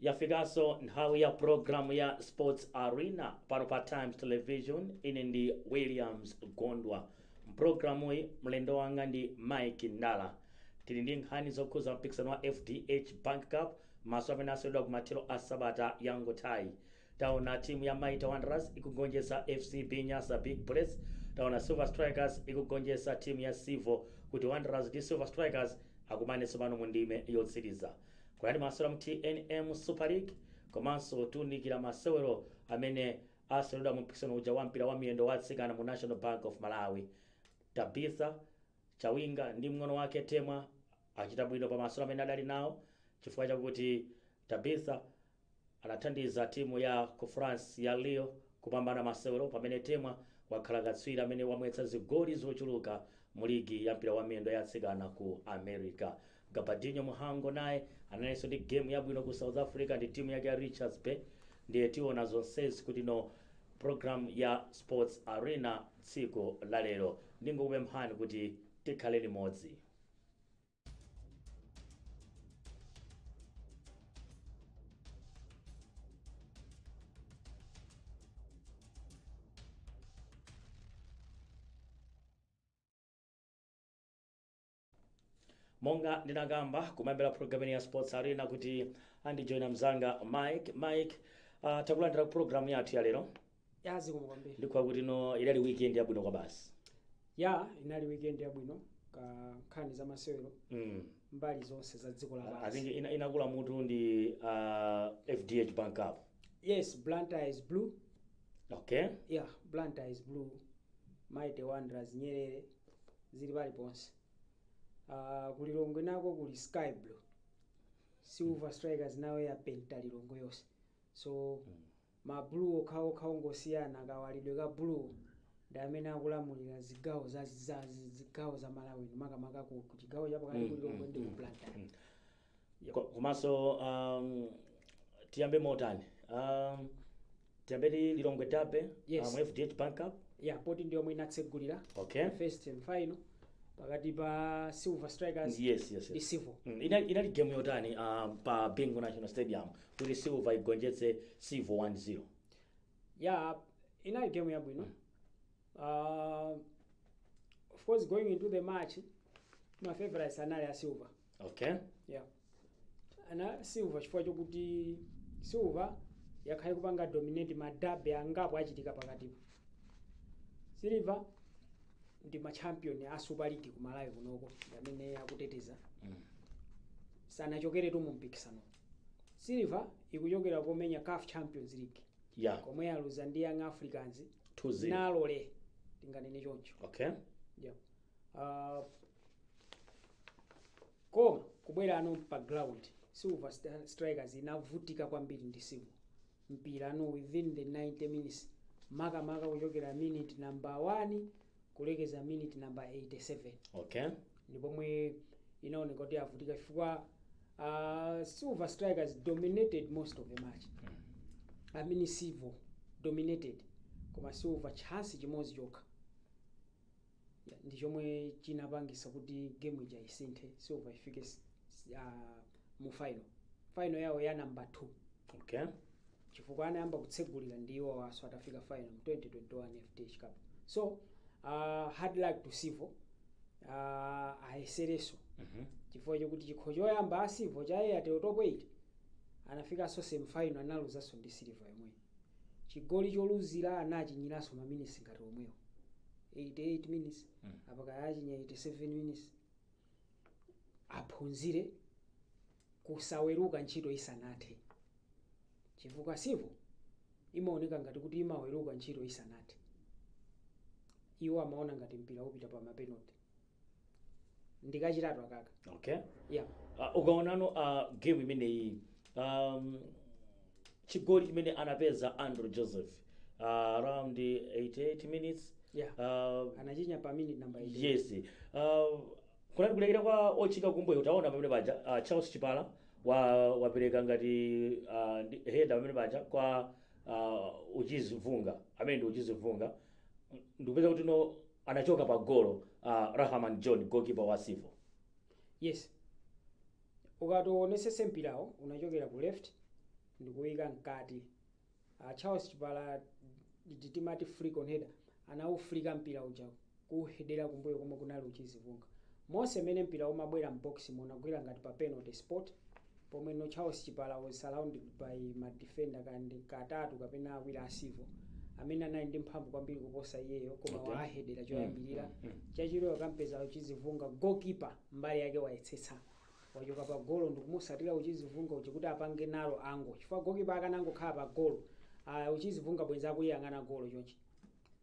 yafikaso nthawi ya programu ya sports arena pano pa times television ine ndi williams gondwa mpulogalamuyi mlendo wanga ndi mike ndala tili ndi nkhani zokhuza mpikisano wa fdh bank cup Maso amene aseweredwa kumathero a sabata yangothayi taona timu ya Mighty Wanderers ikugonjetsa FCB Nyasa Big Bullets, taona Silver Strikers ikugonjetsa timu ya Civo kuti Wanderers ndi Silver Strikers akumane tsopano mu ndime yotsiriza. Kunali masewero a mu tnm Super League komanso tiunikira masewero amene aseweredwa mu mpikisano uja wa mpira wa miyendo wa atsikana mu National Bank of Malawi. Tabitha Chawinga ndi mng'ono wake Temwa achita bwino pa masewero amene adali nawo chifukwa chakuti Tabitha anathandiza timu ya ku France ya Lyon kupambana masewero pamene Temwa wakhala katswiri amene wamwetsa zigoli zochuluka mu ligi ya mpira wa miyendo ya atsikana ku America. Gabadinho Mhango naye analinso ndi game yabwino ku South Africa ndi timu yake ya Richards Bay ndiye tiona zonsezi mu ino program ya Sports Arena tsiku la lero. Ndingokupemphani kuti tikhale limodzi. monga ndinakamba kumayambira programu ya sports arena kuti andijoyina mzanga mike mike uh, takulandira ku programu yathu ya lero ya zikomo kwambiri ndikhulupirira kuti no inali weekend yabwino kwabasi ya inali weekend yabwino ku nkhani za masewero mm. mbali zonse za dziko la pansi I think ina, inakula mutu ndi uh, fdh bank cup yes blantyre is blue okay ya blantyre is blue mighty wanderers nyerere zili paliponse uh, ku lilongwe nako kuli sky blue silver strikers nayo yapenta lilongwe yonse so ma blue okhaokha ongosiyana kawalidwe ka blue ndi amene akulamulira zigawo za za- zigawo za malawi makamaka ku ku chigawo chapakati ku lilongwe ndi ku blantyre komanso tiyambe motani um, tiyambe ndi lilongwe derby Yes. mu fdh bank cup ya poti ndi yomwe inatsegulira okay first semifinal pakati pa silver strikers yes yes, ndi yes. civo Mm, inali inali game yotani uh, pa bingu national stadium kuti silver igonjetse civo 1-0 ya inali game yabwino uh, of course going into the match ma favorites anali a silver okay yeah ana silver chifukwa chokuti silver yakhala ikupanga dominate madabi angapo achitika pakatipo silver ndi machampion a super league ku malawi kunoko ndi amene akuteteza mm. sanachokeretu mu mpikisano silver ikuchokera komenya caf champions league yeah komwe aluza ndi young africans 2-0 nalole tinganene choncho okay yeah. Ah, koma kubwerano pa ground silver Sta- strikers inavutika kwambiri ndi sivo mpirano within the 90 minutes makamaka kuchokera minute number 1 kulekeza minute number 87 okay ndi pomwe inaoneka kuti yavutika chifukwa uh, silver strikers dominated most of the match i mean sivo dominated koma silver chance chimodzi chokha yeah, ndi chomwe chinapangisa kuti game ija isinthe silver ifike s- s- ah, mu final final yawo ya number 2 okay chifukwa anayamba kutsegulira ndi iwowaso atafika final mu 2021 fdh cup so uh, hard luck to sivo uh, ayesereso Mhm. chifukwa chokuti chikho choyamba a sivo cha airtel top 8 anafikanso semifinal analuzaso ndi silver yomweyi chigoli choluzira anachinyiranso maminitsi ngati omwewo 88 minutes apa kaya achinya 87 minutes aphunzire kusaweruka ntchito isanathe chifukwa sivo imaoneka ngati kuti imaweruka ntchito isanathe iwo amaona ngati mpira upita pa mapenoti ndikachitatu akaka okay yeah uh, ukaonano uh, game imeneyi um, chigoli chimene anapeza andrew joseph uh, around 88 minutes yeah uh, anachinya pa minute number 8 yes uh, kunali kulekera kwa otchinga kumbuyo utaona pamene paja uh, charles chipala wa wapereka ngati uh, ndi- heda pamene paja kwa uh, uchizi vunga amene ndi uchizi vunga ndikupeza kuti no anachoka pa golo uh, rahaman john goalkeeper wa sivo yes ukati uwonesese mpirawo unachokera ku left ndikuyika mkati uh, charles chipala ndi timati flick on header anawuflika mpira uja kuhedera kumbuyo komwe kunali uchizi vunga monse mene mpira umabwera mboxmo unagwira ngati pa penalty spot pomwe no charles chipala was surrounded by ma defender kaya ndi atatu kapena awiri a sivo amene anali ndi mphamvu kwambiri kuposa iyeyo koma Okay. wahedera choyambirira chachiwiri wakampeza uchizi vunga goalkeeper mbali yake wayesetsa wachoka pa golo ndikumusatira uchizi vunga uchi kuti apange narrow angle chifukwa goalkeeper akanangokhala pa golo uh, uchizi vunga bwenzi akuyang'ana golo chonchi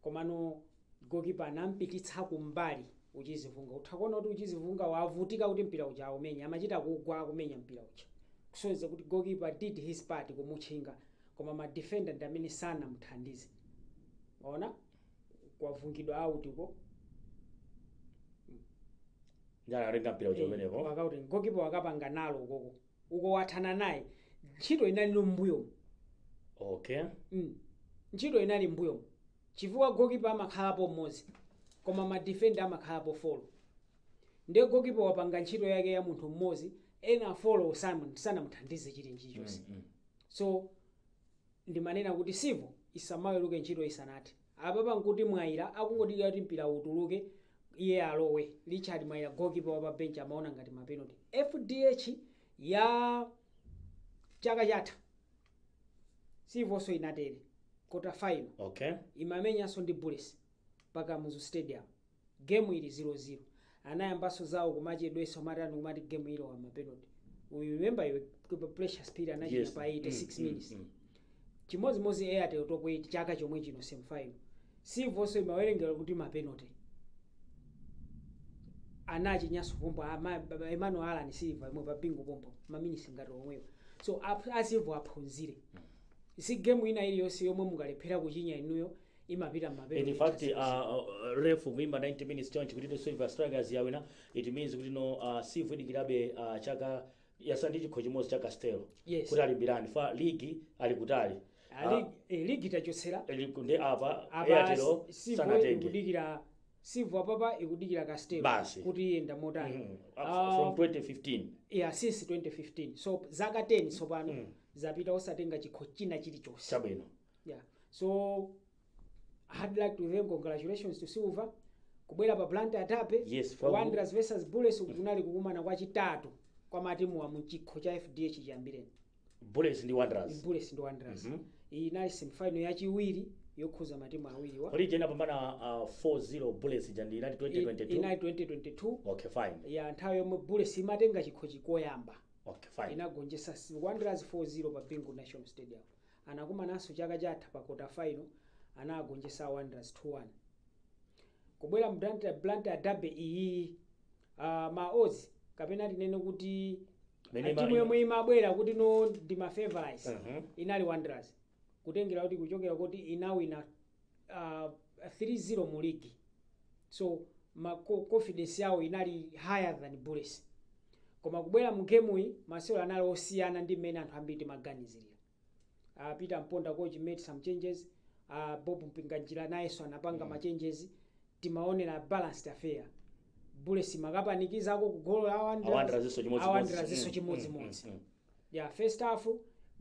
Komano gokipa anampititsa kumbali Uchizi Vunga utha kuona kuti Uchizi Vunga wavutika kuti mpira uja aumenye amachita kugwa akumenya mpira uja kusonyeza kuti gokipa did his part kumutchinga koma ma defender ndi amene sanamuthandize waona kwavungidwa out uko njala atenga mpira uja umenewo wakuti gokipa wakapanga nalo ukoko uko wathana naye ntchito inali mbuyomo okay Mm. ntchito inali mbuyo chifukwa gokipa amakhalapo mmodzi koma madifenda amakhalapo folo ndiye gokipa wapanga ntchito yake ya munthu mmodzi ena folo sanamuthandize china chilichonse so Ndimanena kuti Civil isamaweruke ntchito isanathe. Apapa nkuti Mwaila akungodikira kuti mpira utuluke iye alowe. Richard Mwaila goalkeeper wa pa bench amaona ngati ma penalty. Fdh ya chaka chatha Civonso inatere quarter final Okay. imamenyanso ndi Bullets pa Kamuzu Stadium. Game ili 0 0 anayambaso zawo kumachedwetsa kumatani kumati game ilowa mapenalty you remember iwe kp- precious phiri anachinya Yes. pa 86 Mm, mm, minutes mm. chimodzimodzi airtel top 8 chaka chomwe chino semi final civonso imawerengera kuti mapenalty anachinyaso pompo ama- ba- emmanuel allan silver yomwe pa bingu pompo maminisi ngati omwewo so ap- a civo aphunzire si game ina iliyonse yomwe mungalephera kuchinya inuyo imapita mmapenalty in fact uh, uh, ref kuimba 90 minutes chonchi kuti silver strikers yawina it means kuti no uh, civo idikirabe uh, chaka yatsala ndi chikho chimodzi cha castel Yes. kuti alimbirane fa ligi ali kutali Ali- eh, ligi tachotsera Ah, ligi ndi apa apa airtel civo sanatenge ikudikira civo apapa ikudikira castel Basi. kuti iyenda motani Mhm. Ah, from 2015 yeah, since 2015 so zaka 10 tsopano zapita osatenga chikho china chilichonse chabwino yeah so i'd like to thank congratulations to silver kubwera pa blantyre derby Yes, for- wanderers versus bullets kunali kukumana kwachitatu kwa matimuwa mchikho cha fdh chiyambireni bullets ndi wanderers bullets ndi wanderers Mhm. iyi inali semifinal yachiwiri yokhudza matimu awiriwa kodi ija inapambana uh, 4-0 bullets ija ndi inati inali 2022 2022 okay fine ya nthawi yomwe bullets imatenga chikhochi koyamba okay fine inagonjesa wanderers 4-0 pa bingu national stadium Anakumananso chaka chatha pa kota final anaagonjesa a Wanderers 2 1. Kubwera mu Blantyre, Blantyre Derby iyiyi ah, ma odds kapena tinene kuti Mene ah, timu ma- yomwe imabwera kuti no ndi ma favorites Mhm. inali Wanderers kutengera kuti kuchokera kuti inawina uh, 3-0 mu ligi so ma co- confidence yawo inali higher than bullets koma kubwera mu game iyi masewero anali osiyana ndi mmene anthu ambiri timaganizirira uh, peter mponda coach made some changes uh, Bob mpinganjira nayenso anapanga mm. ma changes timaonera balanced affair bullets imakapanikizako kugolo la Wanderers. Awanderers nso chimodzimodzi. Awanderers nso Mm, chimodzimodzi mm, mm, mm. ya first half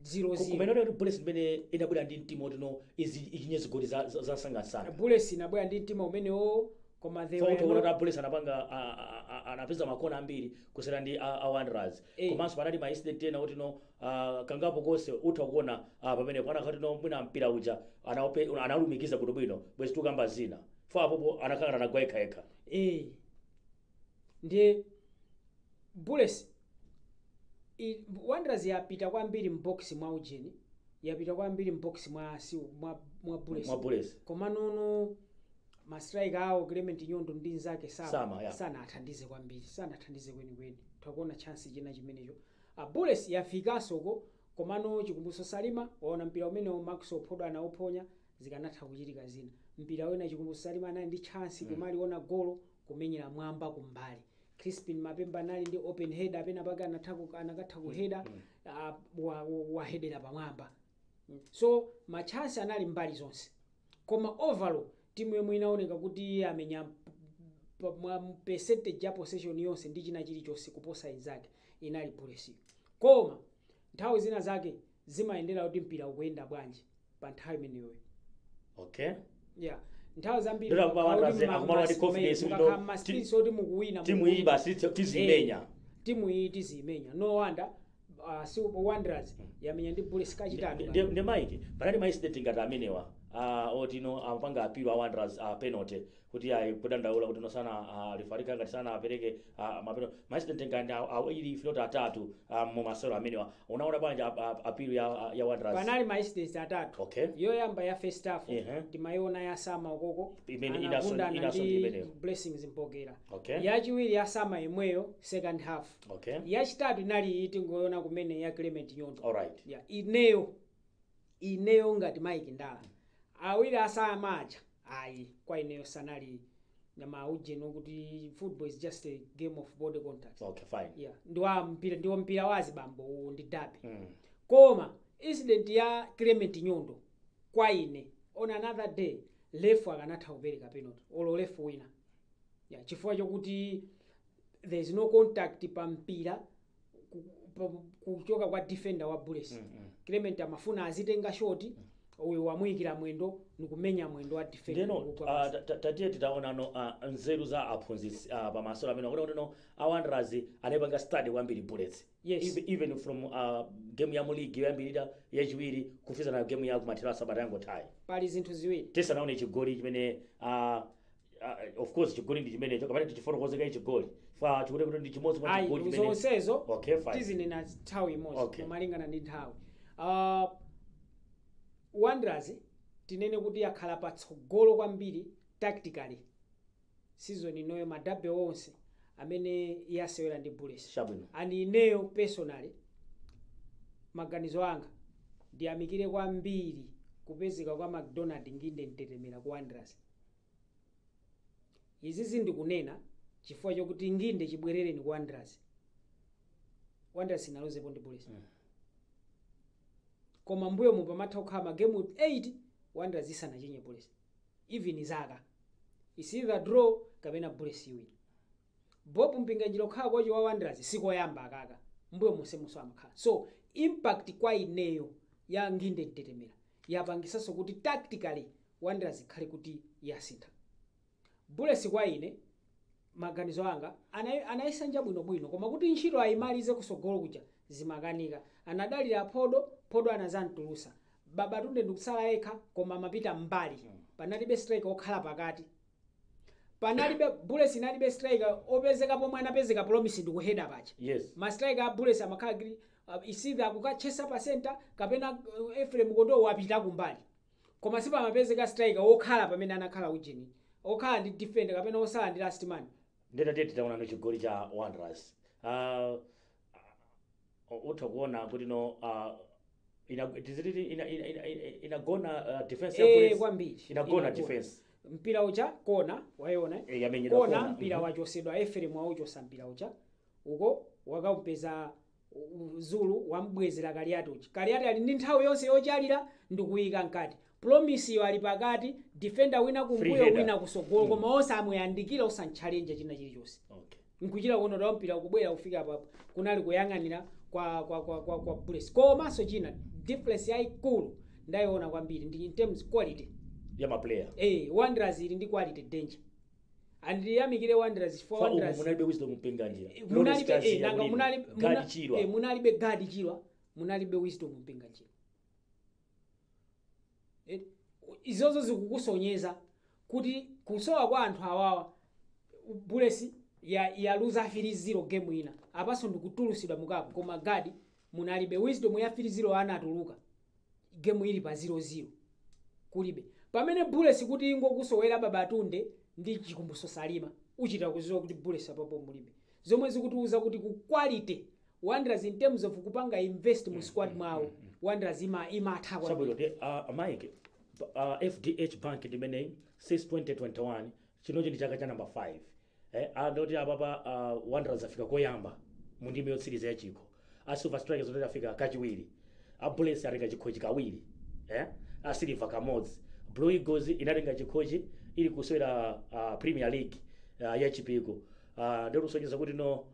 0-0 kumaonera kuti bullets imene inabwera ndi mtima woti no izi ichinye zigoli za- za- zamsangamsanga bullets inabwera ndi mtima umenewo koma they were fautoona not- kuti abullets anapanga a- a- a- anapeza makona ambiri kusiyana ndi a- a wanderers Eh. komanso panali ma incident ena kuti no ah, kangapo konse utha kuona ah, pamenepo panakhala kuti no mwina mpira uja anaope- analumikiza bwinobwino bwezi tukamba zina fo apopo anakangana anagwa yekhayekha eh Ndiye Bullets i- Wanderers yapita kwambiri m'box mwa ujeni yapita kwambiri m'box mwa si mwa mwa Bullets. Mwa Bullets. Koma nono ma striker awo Clement Nyondo ndi nzake Sama, Sama yeah. sanathandize kwambiri sanathandize kwenikweni takuona chance china chimenecho Bullets yafikansoko komano chikumbutso Salima waona mpira umenewo Maxwell Phodo anauphonya zikanatha kuchitika zina mpira wina chikumbutso salima anali ndi chance kumaliona golo kumenyera mwamba kumbali crispin mapemba anali ndi open header penapake anatha ku- anakatha kuheda ah, wa- wa- wahedera pamwamba so machance anali mbali zonse koma overall timu yomwe inaoneka kuti yamenya pa- mwa percentage ya possession yonse ndi china chilichonse kuposa inzake inali bullets koma nthawi zina zake zimayendera kuti mpira ukuyenda bwanji pa nthawi imeneyoyo okay yeah nthawi zambiri Ndira kuba mukakhala wakazi, kuti mma- akumalowa ndi ma confidence kuti mukakhala no, mma ti- streets oti mukuwina timu iyi mukuwina. basi ti- tizimenya Eh, timu iyi tizimenya no wonder uh, si wanderers yamenya ndi bullets kachitatu Ndi- ndi ndi mike panali ma incident ngati amenewa ah, oti no amapanga apilo a wanderers a penalty kuti ayi kudandaula kuti no masana uh, lefali ka ngati sanapereke uh, mapeno ma incident ngati aw- awiri if not atatu uh, mu masewero amenewa unaona bwanji ap- ap- appeal ya, ya wanderers panali ma incident atatu Okay. yoyamba ya first half Ehe. timayiona ya sama ukoko Imene inaso- anagundana inaso ndi ndi imeneyo. blessings mpokera Okay. yachiwiri ya sama yemweyo second half okay yachitatu inali iyi tingoyona kumene ya clement nyondo alright yeah. ineyo ineyo ngati Mike Ndala awiri a Sama aja ayi kwa ineyo sanali ndi ma ujeni akuti football is just a game of body contact okay fine yeah ndi wa mpira ndiwo mpira wa azibambo uwu ndi dabi mm. koma incident ya clement nyondo kwa ine on another day lefu akanatha kupereka penalty olo lefu wina yeah, chifukwa chokuti there is no contact pa mpira ku- pa- kuchoka kwa defender wa bullets clement amafuna azitenga shoti uyu wamuyikira mwendo nikumenya mwendo wa defender ndeno kugwa ah, pansi. ta- ta- tatiyeni titaonano ah, nzeru za aphunzitsi ah, pamasewero amene mukuti kuti no awanderers anayipanga study kwambiri bullets Yes. Even- even from ah, game ya muligi yoyambirira yachiwiri kufikana game ya kumathero a sabata yangotayi pali zinthu ziwiri tisanaone chigoli chimene ah, Ah, eh, of course chigoli ndi chimenecho kapena tichifotokoze kaye chigoli chifukwa chikuti kuti ndi chimodzi mwa ayi chigoli chimene zonsezo Okay, fine. tizinena nthawi imodzi Okay. kumalingana ndi nthawi uh, wanderers tinene kuti yakhala patsogolo kwambiri tactically season inoyo madabe onse amene yasewera ndi bullets chabwino and ineyo personally maganizo anga ndiyamikire kwambiri kupezeka kwa mcdonald nginde mtetemera ku wanderers Izi zi ndikunena chifukwa chokuti nginde chibwerereni ku Wanderers. Wanderers inaluzepo ndi Bullets. Koma m'mbuyomu pamatha kukhala magemu 8 Wanderers isanachinye Bullets. Even zaka. It's either draw kapena Bullets iwina. Bob Mpinganjira okhala kochi wa Wanderers sikoyamba aka. M'mbuyo monsemunso amakhala. So impact kwa ineyo ya nginde mtetemera yapangisanso kuti tactically wanderers ikhale kuti yasintha. Bullets kwa ine maganizo anga anayi, anayisanja bwino bwino koma kuti ntchito ayimalize kusogolo kuja zimakanika anadalira phodo phodo anazamtulusa babatunde ndikutsala yekha koma amapita m'mbali panalibe striker okhala pakati panalibe bullets inalibe striker opezeka pomwe anapezeka promise ndikuheda paja yes ma striker a bullets amakhala kuti uh, isitha akukatchesa pa center kapena uh, efrem kondowe wapita kumbali koma sipamapezeka striker wokhala pamene anakhala ujeni okhala ndi defender kapena osala ndi last man nde tati titaonano chigoli cha wanderers uh, O- utha kuona kuti no uh, ina, tiziti ina, ina, ina, ina, inagona uh, defense ya Eh, bullets kwambiri inagona defense mpira uja kona wayona eh? eh, yamenyedwa kona kona. mpira Mhm. wachosedwa efrem wauchosa mpira uja uko wakaumpeza u- zulu wamubwezera kaliati uja kaliati ali ndi nthawi yonse yochalira ndikuyika mkati Promiseyo ali pakati, defender wina Free kumbuyo header. wina kusogolo koma osamuyandikira osamchallenge china chilichonse. Okay. Nkuchita kuona kuti mpira kubwera kufika apa kunali kuyang'anira kwa kwa kwa kwa, kwa Bullets. Komanso china difference yaikulu ndayiona kwambiri ndi in terms quality. Ya ma player. Eh, Wanderers ili ndi quality danger. And ndiyamikire Wanderers for Kwa umu Wanderers. munalibe wisdom mpinganjira. Lawrence munalibe Chaziya eh, nanga kulini. munali Gadi muna- Chirwa. eh, munalibe gadi chirwa munalibe wisdom mpinganjira Eti, u- izozo zikukusonyeza kuti kusowa kwa anthu awawa bullets ya yaluza 3-0 game ina apanso ndikutulusidwa mukapu koma Gaddie munalibe wisdom ya 3-0 anatuluka game ili pa 0-0 kulibe pamene bullets kuti ingokusowera babatunde ndi chikumbuso salima uchita kuziwa kuti bullets apapo mulibe zomwe zikutiuza kuti ku quality Wanderers in terms of kupanga invest mu squad mwawo Wanderers ima imatha kwa chabwino nde uh, a Mike uh, fdh bank ndimeneyi since 2021 chinochi ndi chaka cha namba 5 eh, ndoti apapa uh, wanderers afika koyamba mu ndime yotsiriza ya chikho a silver strikers ndoti afika kachiwiri a bullets atenga chikhochi kawiri eh, a silver kamodzi blue eagles inatenga chikhochi ili kusewera uh, premier league uh, ya Chipiku uh, ndikusonyeza kuti no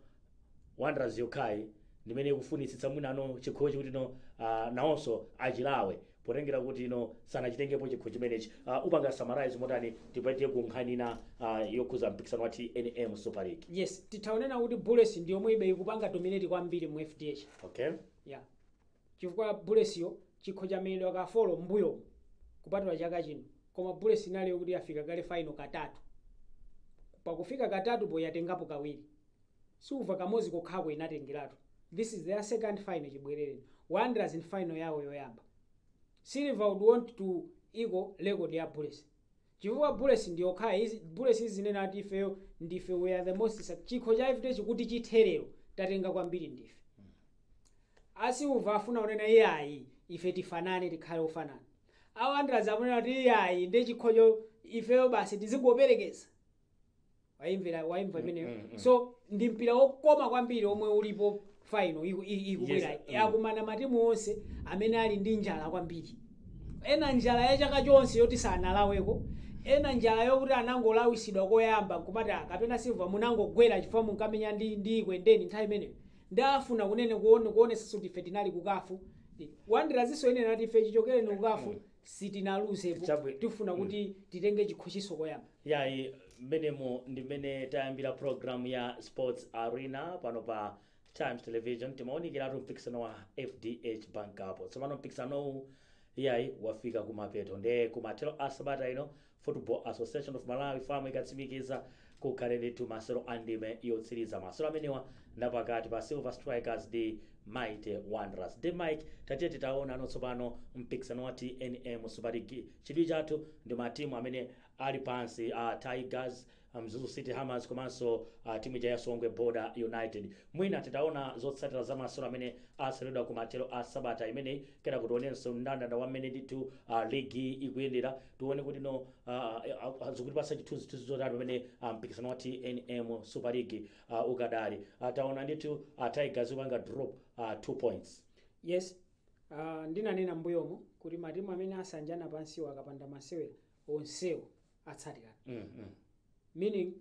Wanderers yokhayi ndimene ikufunitsitsa mwinano chikhochi kuti no uh, nawonso achilawe potengera kuti no sanachitengepo chikho chimenechi uh, upanga summarize motani tipite ku nkhani ina uh, yokhuza mpikisano wa tnm super league yes titha unena kuti bullets ndi yomwe ibe ikupanga dominate kwambiri mu fdh okay yeah chifukwa Bullets'yo chikho chamenyedwa ka 4 m'mbuyomu kupatula chaka chino koma Bullets inali yokuti yafika kale final katatu. Pa kufika katatupo yatengapo kawiri. Silver kamodzi kokhako inatengeratu. This is their second final chibwerereni. Wanderers ndi final yawo yoyamba. Silver would want to equal record ya Bullets. Chifukwa Bullets ndiyokhayi iz Bullets izinena ati ifeyo ndife we are the most suc chikho cha FDH kuti chithe lero tatenga kwambiri ndife a Silver afuna kunena iyayi ife tifanane tikhale ofanana a Wanderers akunena kuti iyayi nde chikhocho ifeyo basi tizingoperekeza wayimvera wayimva imeneyo mm, mm. so ndi mpira wokoma kwambiri omwe ulipo final iku- i- ikubwera Yes, mm. akumana matimu onse amene ali ndi njala kwambiri ena njala ya chaka chonse yoti sanalaweko ena njala yokuti anangolawisidwa koyamba kumati "Ah, kapena Silver munangogwera chifukwa munkamenya ndi ndi Ekwendeni nthawi imeneyo nde afuna kunena kuone kuonesa kuti ife tinali ku CAF Wanderers'nso inena ati ife chichokereni ku CAF sitinaluzepo Chabwi- tifuna Mm. kuti titenge chikhochiso koyamba yayi mmenemo ndi mmene tayambira programu ya sports arena pano pa times television timaunikiratu mpikisano wa fdh bank cup tsopano mpikisanowu yayi wafika kumapeto nde kumathero a sabata ino Football Association of Malawi, FAM, ikatsimikiza kukhaleretu masewero a ndime yotsiriza. Masewero amenewa ndapakati pa Silver Strikers ndi Mighty Wanderers. Nde Mike, tatiye titaonano tsopano mpikisano wa tnm Super League. Chidwi chathu ndi matimu amene ali pansi, a Tigers, a Mzuzu City Hammers komanso a timu ija ya Songwe Border United. Mwina titaona zotsatira za masewero amene aseweredwa kumathero a sabata imeneyi, kena kuti tionenso mndandanda wa mmene ndithu ligi ikuyendera, tione kuti no ah, ah, ah, zikutipatsa chithunzithunzi chotani pamene ah, mpikisano wa tnm Super League ah, ukadali. Ah, Taona ndithu a Tigers ikupanga drop ah, 2 points. yes uh, ndinanena mbuyomo kuti matimu amene asanjana pansiwo akapanda masewera onsewo atsatirana meaning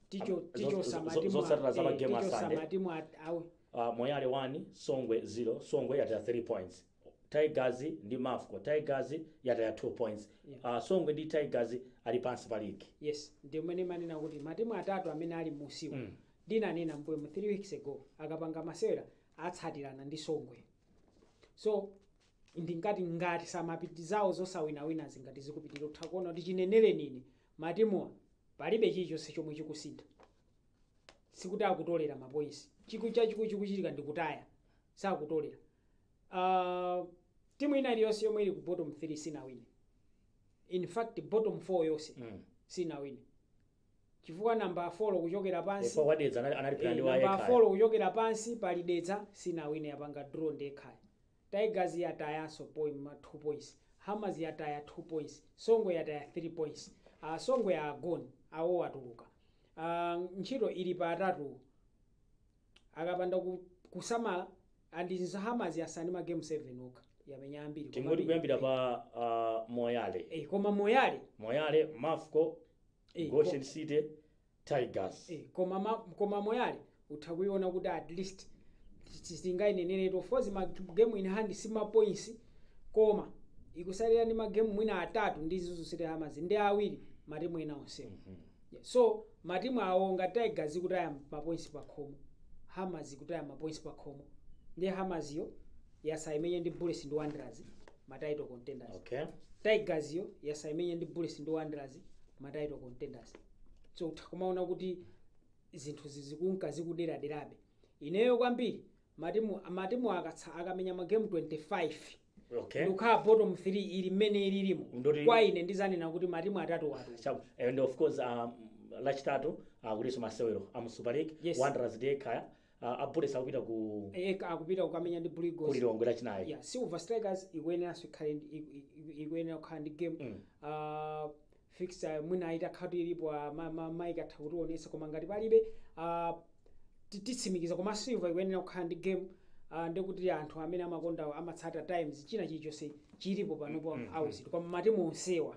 ticho ticho samati zotsatira za magemu a Sunday. samati mwa awe uh, moyale 1 songwe 0 songwe yataya 3 points tigers ndi mafco tigers yataya 2 points uh, songwe ndi tigers ali pansi pa ligi yes ndi zimene ndimanena kuti matimu atatu amene ali munsiwa mm. ndinanena mbuyomu 3 weeks ago akapanga masewera atsatirana ndi songwe so nde ngati samapiti zawo zosawinawina zili ngati zikupitirira utha kuona kuti chinenereni ine matimuwa palibe chilichonse chomwe chikusintha sikuti akutolera mapoints chiku chachikulu chikuchitika ndi kutaya sakutolera uh, timu ina iliyonse yomwe ili ku bottom 3 sinawine in fact bottom 4 yonse Mm. sinawine chifukwa namba 4 kuchokera pansi Chifukwa wa Dedza anali- anali Eh, plan ndi wa namba yekha. 4 kuchokera pansi pali Dedza sinawine yapanga draw ndi yekhayo Tigers yatayanso poin, 2 points, Hammers yataya 2 points, Songwe yataya 3 points, a Songwe are gone, awo atuluka, a ntchito ili pa atatu akapanda ku, kusamala and then Hammers yasala ndi ma game 7 okha yamenya ambiri Koma tingoti ndi- kuyambira pa ah, moyale eh, koma Moyale moyale mafco Eh, goshen city Tigers. Eh, koma ma, koma moyale utha kuiona kuti at least sitingainenenso of course ma game in hand si ma points koma ikusalira ndi ma game mwina atatu ndi Mzuzu City Hammers ndi awiri matimu ena onsewo Yeah, so matimu awo ngati Tigers ikutaya ma points pa khomo Hammers ikutaya ma points pa khomo ndi Hammers yo yasala imenye ndi Bullets ndi Wanderers ma title contenders Okay. Tigers yo yasala imenye ndi Bullets ndi Wanderers ma title contenders so utha kumaona kuti zinthu zizikunka zikuderaderabe ineyo kwambiri matimu matimu akatsa akamenya magemu 25 okay n'kukhala bottom 3 ili mmene ililimo Ndoti- kwa ine ndizanena kuti matimu atatuwa atuluka Chabu. and of course um, lachitatu kulinso masewero amu super league Yes. wanderers nde kaya Ah, a Bullets akupita ku Eh, akupita kukamenya ndi Blue Eagles. ku Lilongwe lachinayi. yeah, silver strikers ikuyeneranso ikhale ndi- iku- iku- ikuyenera kukhala ndi game Mm. uh, fixture mwina itakhala kuti ilipo ah, ma- ma- Mike atha kutionesa koma ngati palibe ah, ti- titsimikiza koma silver ikuyenera kukhala ndi game ah, ndekuti anthu amene amakonda amatsata times china chilichonse chilipo panopo Mm, mm, auzitu koma matimu onsewa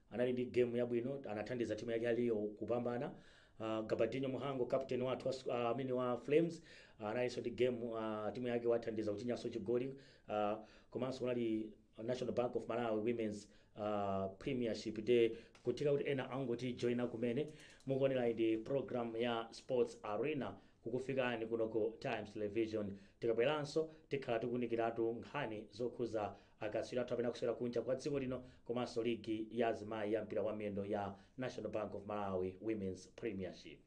Anali ndi game yabwino anathandiza timu yake aliyo kupambana. Uh, Gabadinho Mhango captain wathu wa uh, amene wa Flames uh, analinso ndi game uh, timu yake wathandiza kuchinyanso chigoli uh, komanso kunali National Bank of Malawi Women's uh, Premiership Day kutheka kuti ena angotijoina kumene mukuonera ndi program ya Sports Arena kukufikani kuno ku Times Television tikabweranso tikhala tikunikiratu nkhani zokhuza Akatswiri athu amene akusewera kunja kwa dziko lino komanso ligi ya azimayi ya mpira wa miyendo ya National Bank of Malawi Women's Premiership.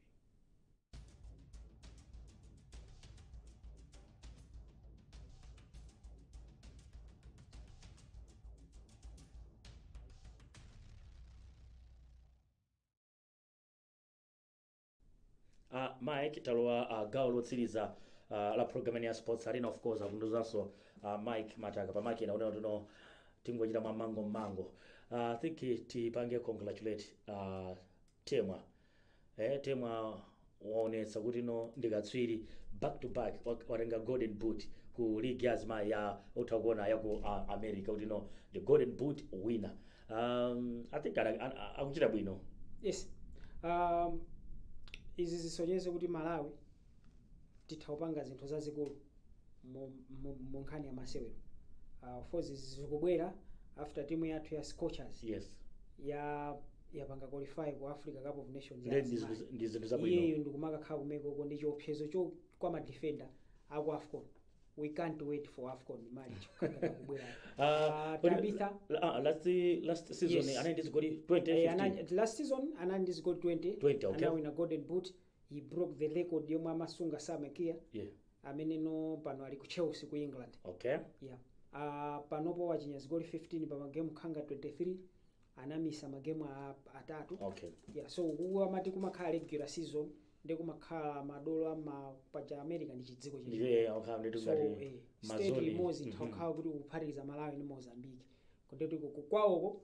Uh, Mike talowa uh, gawo lotsiriza uh, la program ya sports arena of course akunduzanso uh, Mike Mataka pamakina kunena kuti no tingochita mwa mmangummangu uh, I think tipange congratulate uh, Temwa eh, Temwa waonetsa kuti no ndi katswiri back to back wa- watenga golden boot ku league ya azimayi ya mutha kuona ya ku uh, America kuti no the golden boot winner um, i think ana- ana- akuchita bwino yes um, izi zikusonyeza kuti malawi titha upanga zinthu zazikulu mu- mu- mu nkhani ya masewero uh, of course izi zikubwera after timu yathu ya scorchers yes ya yapanga qualify ku africa cup of nations ya Ndi- ndi Zimbabwe. zinthu- ndi zinthu zabwino iyeyo ndi kumakakhala kumeko uko ndi chiopsezo cho kwa madefenda aku afcon we can't wait for afcon March ikukakhala kubwera Ah, Ah, kodi- tabitha ah, last last season Yes. anali ndi zigoli Eh, 2015 ana- last season anali ndi zigoli 20 20, okay. anawina golden boot he broke the record yomwe amasunga Sam Kerr yeah ameneno pano ali ku chelsea ku england okay yeah. uh, panopo wachinya zigoli 15 pa magemu khanga 23 anamissa magemu a- atatu okay yeah, so uku amati kumakhala regular season ndiye kumakhala madolo amapaja america ndi chidziko cha Ndiye, eh, okhala nditu so ngati eh, state mazoni. limodzi Mhm. itha ukhala kuti kuphatikiza malawi ndi mozambique kotero kuti kukwawoko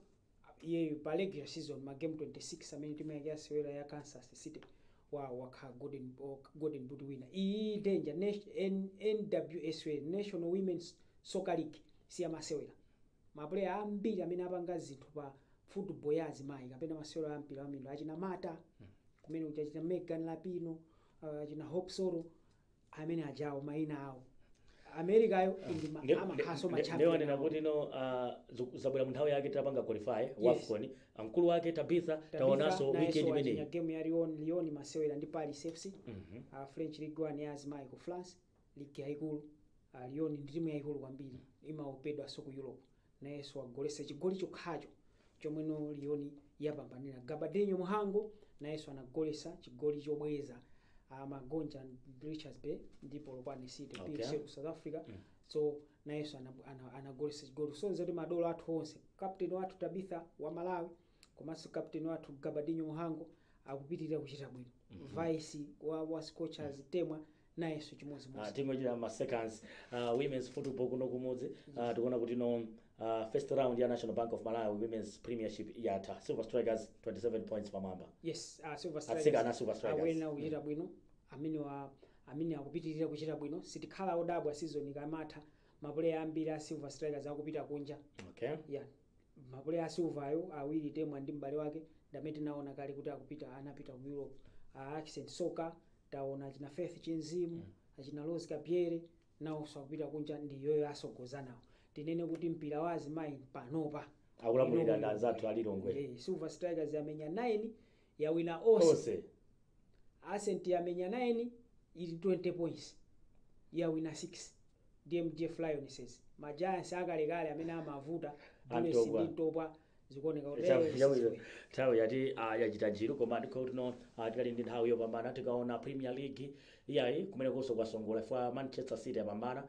iyeyo pa regular season ma game 26 amene timu yake yasewera ya kansas city wa wakhala golden, o- golden boot winner iyi danger Nat- N- NWSL national women's soccer league si yamasewera Ma player ambiri amene apanga zinthu pa football ya azimayi kapena masewero a mpira wa miyendo achina Marta kumene kuja achina Megan Rapinoe uh, achina Hope Solo amene ajawo maina awo Americayo ndi ma- Nde- amakhalanso nde- ma nde- champion nde wanena awo. kuti no ah, zu- zabwera mu nthawi yake tapanga qualify Yes. wafcon amkulu wake tabitha Tabitha taonanso nayenso weekend wachinya imeneyi game ya Lyon Lyon imasewera ndi Paris FC Mhm. uh, French Ligue 1 ya azimayi ku France ligi yaikulu uh, Lyon ndi timu yaikulu kwambiri imaopedwanso ku Europe nayenso wagoletsa chigoli chokhacho chomwenso Lyon yapambanira Gabadinho Muhango nayenso anagoletsa chigoli chobweza uh, amagonja Richards Bay ndi Polokwane City Okay. PSL ku South Africa so nayenso ana- ana- anagoletsa chigoli so zoti madolo athu onse captain wathu Tabitha wa Malawi komanso captain wathu gabadinho muhango akupitirira kuchita bwino vice wa, wa scorchers temwa nayenso Ah, chimodzimodzi tingochita ma seconds ah, women's football kuno kumudzi ah, tikuona kuti no ah, first round ya national bank of malawi women's premiership yatha silver strikers 27 points pamwamba yes uh, silver Atsika ana Silver Strikers. awona kuchita bwino amene wa amene akupitirira kuchita bwino sitikhala odabwa season ikamatha mapuleya ambiri a silver strikers akupita kunja okay yeah mapuleya a silver ayo awiri temwa ndi m'bale wake ndi amene tinaona kale kuti akupita anapita ku europe a Ascent Soccer taona achina faith chinzimu achina rose Kabzere nawonso akupita kunja ndi iwowo atsogozana nawo tinene kuti mpira wa azimayi panopa Akulamulira ndi anzathu a Lilongwe. Eh, silver strikers yamenya 9 Yawina onse. onse. Ascent yamenya 9 ili 20 points. Yawina 6. Ndiye MDF Lionesses. Ma Giants akalekale amene amavuta Bullets a Ntopwa. ndi Ntopwa zikuoneka kuti Chabu- chabu- eh, nthawi yati ah, yachita njiru koma ndikuti no tikali ndi nthawi yopambana tikaona premier league iyayi kumenekonso kwasongola chifukwa manchester city yapambana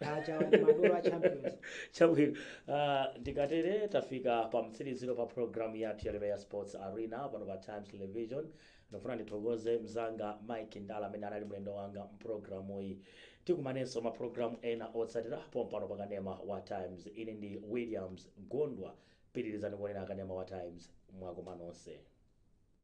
acha awa ndi madolo a champions chabwino uh, ndikatere tafika pa mtsiriziro pa programu yathu ya lero ya sports arena pano pa times television ndikufuna ndithokoze mzanga mike ndala amene anali mlendo wanga mprogramu iyi tikumanenso maprogramu ena otsatira pompano pa kanema wa times ine ndi williams Gondwa pitirizani kuonera kanema wa times mwakoma nonse